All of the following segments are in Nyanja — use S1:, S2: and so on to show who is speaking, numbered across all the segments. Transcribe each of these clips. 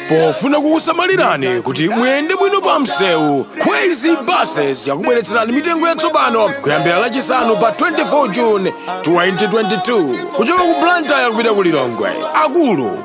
S1: pofuna kukusamalirani kuti muyende bwino pa msewu kwezy buses yakubweretserani mitengo yatsopano kuyambira lachisanu pa 24 june 2022 kuchoka ku blantyre kupita ku lilongwe akulu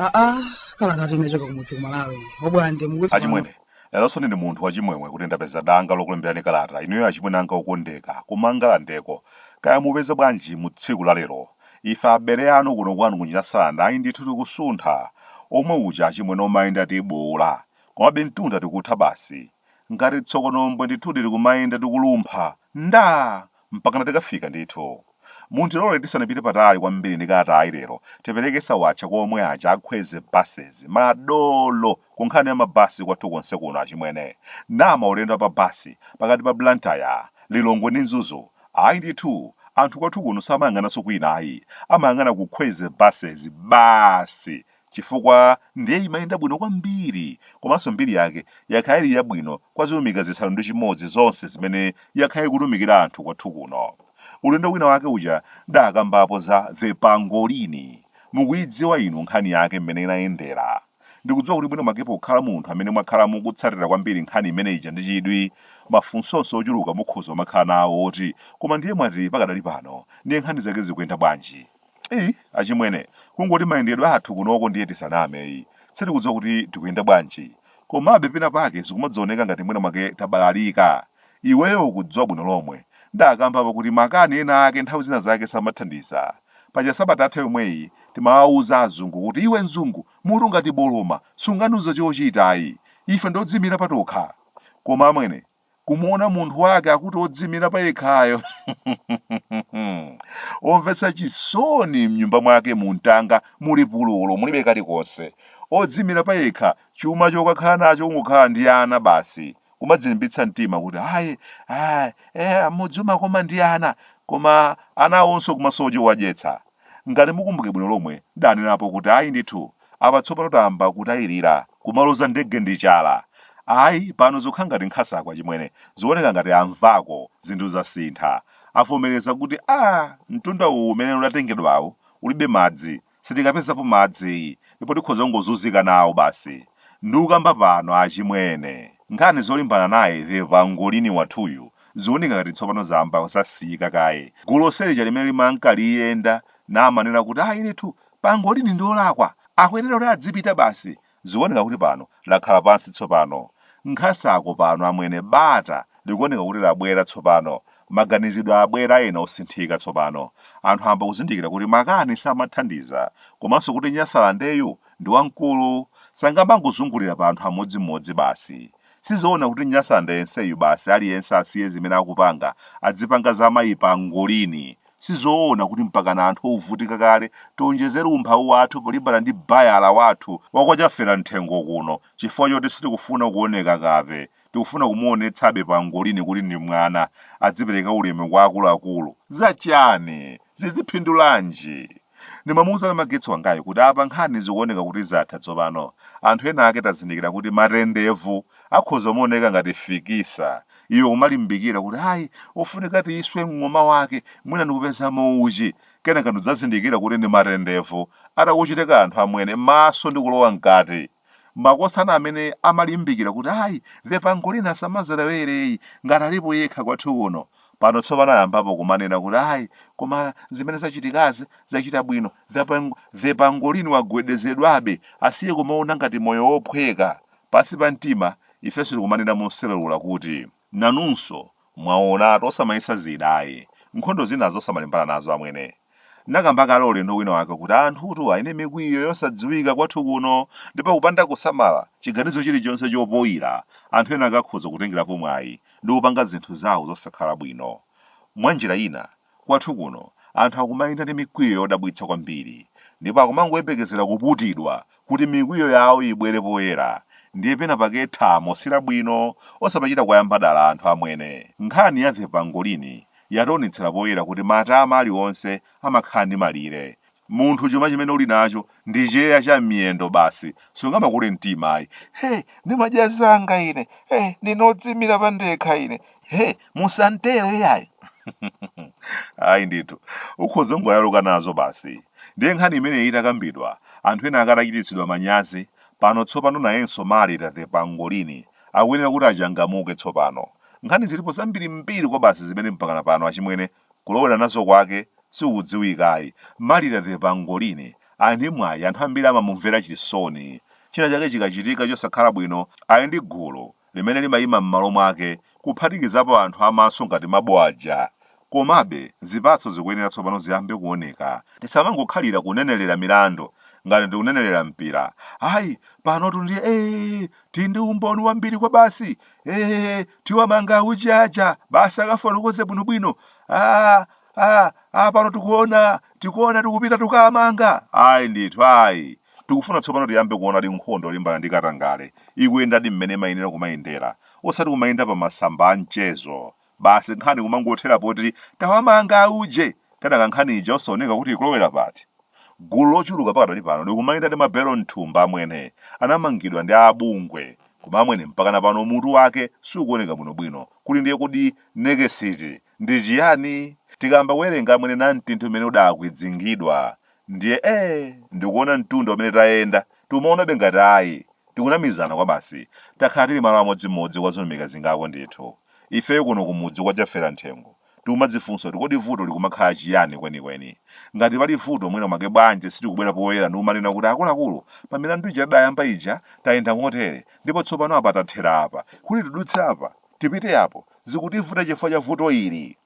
S1: aa kala ngati inachoka kumudzi kumalawi obwande mukuti achimwene leronso ndine munthu wachimwemwe kuti ndapeza danga lokulemberani kalata inuyo achimwene anga okondeka kumangalandeko kaya mupeza bwanji mu tsiku la lero Ife abele anu kuno kwanu kunyasaland ayi ndithu tikusuntha omwe uja achimwene omayenda tibuula komabe mtunda tikutha basi ngati tsokonombwe ndithudi tikumayenda tikulumpha nda! mpakana tikafika ndithu. Mundirole tisanapite patali kwambiri ndikati ayi lero tipereke sawatcha kwa omwe aja a Kwezy buses, madolo! Ku nkhani ya ma bus kwathu konse kuno achimwene, naa maulendo a pa bus pakati pa Blantyre, Lilongwe ndi Mzuzu, ayi ndithu anthu kwathu kuno samayang'ananso kwina ayi, amayang'ana ku Kwezy buses basi chifukwa ndiye imayenda bwino kwambiri komanso mbiri yake yakhala ili yabwino kwa zilumika zisanu ndi chimodzi zonse zimene yakhala ikutumikira anthu kwathu kuno. Ulendo wina wake uja ndaakambapo za The Pangolini, mukuidziwa inu nkhani yake mmene inayendera? Ndikudziwa kuti mwina mwake pokhala munthu amene mwakhala mukutsatira kwambiri nkhani imene ija ndi chidwi, mafunsonso ochuluka mukhoza kumakhala nawo oti koma ndiye mwati pakadali pano ndiye nkhani zake zikuyenda bwanji? Eyi, achimwene, kungoti mayendedwe athu kunoko ndiye tisaname eyi, sitikudziwa kuti tikuyenda bwanji. Komabe pena pake zikumadzioneka ngati mwina mwake tabalalika. Iweyo ukudziwa bwino lomwe ndakambapo kuti makani ena ake nthawi zina zake samathandiza. Paja sabata yatha yomweyi timawauza azungu kuti iwe mzungu mutu ngati boloma sungandiuze chochita ayi. Ife ndi odziimira patokha. Koma amwene, kumuona munthu wake akuti odziimira payekhayo omvetsa chisoni mnyumba mwake mumtanga muli pululu mulibe kalikonse. Odziimira payekha chuma chokakhala nacho kungokhala ndi ana basi. kumadzilimbitsa mtima kuti ayi ayi eh, mudzi umakoma ndi ana koma ana awonso kumasowa chowadyetsa ngati mukumbuke bwino lomwe ndanenapo kuti ayi ndithu apa tsopano tayamba kutayirira kumaloza ndege ndi chala ayi pano zokhala ngati nkhasako achimwene zioneka ngati amvako zinthu zasintha avomereza kuti a mtunda uwu umene udatengedwawo ulibe madzi sitikapezapo madzi ndipo tikhoza kungozunzika nawo basi. Ndikukamba pano achimwene, nkhani zolimbana naye the Pangolini wathuyu zioneka ngati tsopano zayamba zasiyika kaye. Gulu lonse lija limene limanka liyenda namanena kuti ayi ndithu Pangolini ndi olakwa, akuyenera kuti adzipita basi, Zikuoneka kuti pano lakhala pansi tsopano. Nkhasako pano, amwene, bata likuoneka kuti labwera tsopano. Maganizidwe abwera ena osinthika tsopano. Anthu ayamba kuzindikira kuti makani samathandiza, komanso kuti Nyasalandeyu ndi wamkulu. Sangamangozungulira pa anthu amodzimodzi basi. Sizoona kuti Nyasalande yenseyu basi aliyense asiye zimene akupanga adzipanga za mayi Pangolini. Sizoona kuti mpakana anthu ovutika kale tionjezere umphawi wathu polimbana ndi bayala wathu wa kwa chafera mthengo kuno chifukwa choti sitikufuna kuoneka kape. Tikufuna kumuonetsabe pangolini kuti ndi mwana, adzipereka ulemu kwa akuluakulu. Za chani? Zili ndi phindu lanji? Ndimamuuza Namagetsi wangayu kuti apa nkhani zikuoneka kuti zatha tsopano. Anthu ena ake tazindikira kuti matendevu akhoza kumaoneka ngati fikisa iwe kumalimbikira kuti ayi ofunika tiyiswe mng'oma wake mwina ndikupezamo uchi kenaka ndidzazindikira kuti ndi matendevu atakuchita kanthu amwene maso ndi kulowa mkati makosana amene amalimbikira kuti ayi the pangolini asamazolowere ayi ngati alipo yekha kwathu kuno pano tsopano ayambapo kumanena kuti ayi koma zimene zachitikazi zachita bwino the pang- the pangolini wagwedezedwabe asiye kumaona ngati moyo wophweka Pansi pa mtima, ifenso tikumanena mosereula kuti, Nanunso, mwaonatu, osamayesa zida ayi. Nkhondo zinazo osamalimbana nazo amwene. Ndinakamba kale ulendo wina wake kuti anthutu ali ndi mikwiyo yosadziwika kwathu kuno ndipo kupanda kusamala, chiganizo chilichonse chopoira anthu ena akakhoza kutengerapo mwayi ndi kupanga zinthu zawo zosakhala bwino. Mwanjira ina, Kwathu kuno anthu akumayenda ndi mikwiyo yodabwitsa kwambiri ndipo akumangoyembekezera kuputidwa kuti mikwiyo yawo ibwere poyera ndiye pena pake thamo silabwino osamachita kuwayamba dala anthu amwene. Nkhani ya The Pangolini yationetsera poyera kuti matama alionse amakhala ndi malire Munthu chuma chimene uli nacho ndi cheya cha m'miyendo basi, sungamakule mtima ayi. He, ndimadya zanga ine, he, ndine odziimira pandekha ine, he, musantere iyayi. ayi ndithu, ukhoza kungoyaluka nazo basi. Ndiye nkhani imeneyi itakambidwa, anthu ena ake atachititsidwa manyazi, pano tsopano nayenso Marita the Pangolini akuyenera kuti achangamuke tsopano. Nkhani zilipo zambirimbiri kwabasi zimene mpakana pano achimwene kulowera nazo kwake sikudziwika ayi. Madam The Pangolini ali ndi mwayi anthu ambiri amamumvera chisoni. China chake chikachitika chosakhala bwino ali ndi gulu limene limayima m'malo mwake kuphatikizapo anthu a maso ngati mabo aja. Komabe zipatso zikuyenera tsopano ziyambe kuoneka. Tisamangokhalira kunenelera milandu ngati tikunenelera mpira. Ayi, panotu ndiye ee! Tili ndi umboni wambiri kwabasi! ee tiwamanga auje aja basi akafotokoze bwinobwino ah, ah, ah, pano tikuona tikuona tikupita tukamanga ayi ndithu ayi tikufuna tsopano tiyambe kuona kuti nkhondo yolimbana ndi katangale ikuyendadi mmene imayenera kumayendera osati kumayendera pa masamba a mchezo basi nkhani kumangothera poti tawamanga auje kenaka nkhani ija osaoneka kuti ikulowera pati gulu lochuluka pakadali pano likumayenda ndi mabelo mthumba amene anamangidwa ndi abungwe koma amene mpakana pano mutu wake sukuoneka bwinobwino kuti ndiye kodi nekesiti ndi chiyani tikayamba kuwerenga amwene ndi mtunda umene udakwidzingidwa ndiye ee ndikuona mtundu amene tayenda tikumaonabe ngati ayi tikunamizana kwabasi takhala tili malo amodzimodzi kwa zaka zingapo ndithu ifeyo kuno kumudzi kwa chafera mthengo tikumadzifunsa kuti kodi vuto likumakhala chiyani kwenikweni ngati pali vuto mwina mwake bwanji sitikubwera poyera ndi kumanena kuti akuluakulu pa milandu ija tidayamba ija tayenda motere ndipo tsopano apa tathera apa kuti tidutse apa tipite apo zikutivuta chifukwa cha vuto ili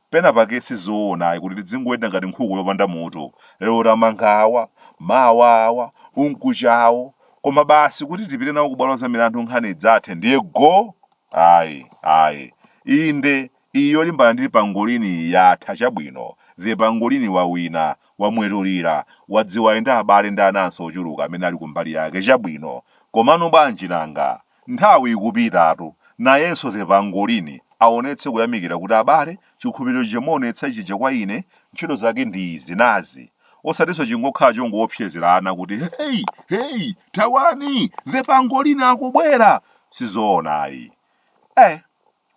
S1: penapake sizoona ayi kuti tidzingoyenda ngati nkhuku yopanda mutu lero tamanga awa mawa awa mkucha awo koma basi kuti tipite nawo kubwalo la milandu nkhani izathe ndiye go ayi ayi inde iyi yolimbana ndi pangolini yatha chabwino the pangolini wawina wamwetulira wadziwa enda abale ndi anansi ochuluka amene ali kumbali yake chabwino komano bwanji nanga Nthawi ikupitatu, nayenso The Pangolini aonetse kuyamikira kuti abale, chikhulupiriro chija mwaonetsa chija kwa ine, ntchito zake ndi izi, nazi. Osatinso chingokhala chongoopsezera ana kuti Heyi! Heyi! Thawani! The Pangolini akubwera! Sizoona ayi. Eh!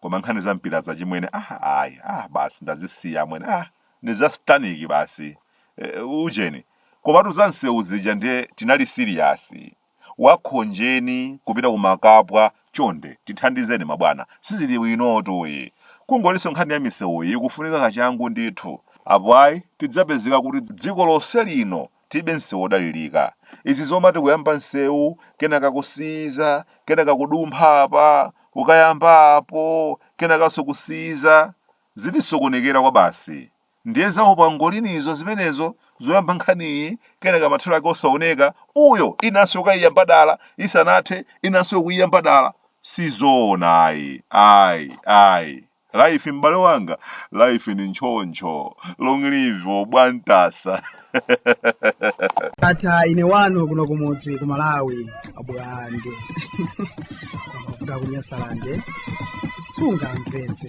S1: Koma nkhani za mpirazi achimwene, ah ayi, ah basi ndazisiya amwene, ah ndi za sataniki basi. Eh, ujeni. Komatu za msewu zija ndiye tinali siliyasi. wakhonjeni kupita kumakapwa chonde tithandizeni mabwana sizili bwinotu ayi kungolinso nkhani ya misewuyi ikufunika kachangu ndithu apo ayi tidzapezeka kuti dziko lonse lino tilibe nsewu odalilika izi zomati kuyamba nsewu kenaka kusiyiza kenaka kudumpha apa kukayamba apo kenakanso kusiyiza zitisokonekera kwabasi Ndiye za upangolini izo zimenezo, zoyamba nkhani iyi, kenaka mathero ake osaoneka, uyo, inanso yokayiyamba dala, isanathe, inanso yokuyiyamba dala. Si zoona ayi, ayi, ayi. Life m'bale wanga, life ndi ntchontcho. Long live Obwantasa. ata ine wanu kuno kumudzi ku malawi a Bulande amavuta ku Nyasalande sungamvetse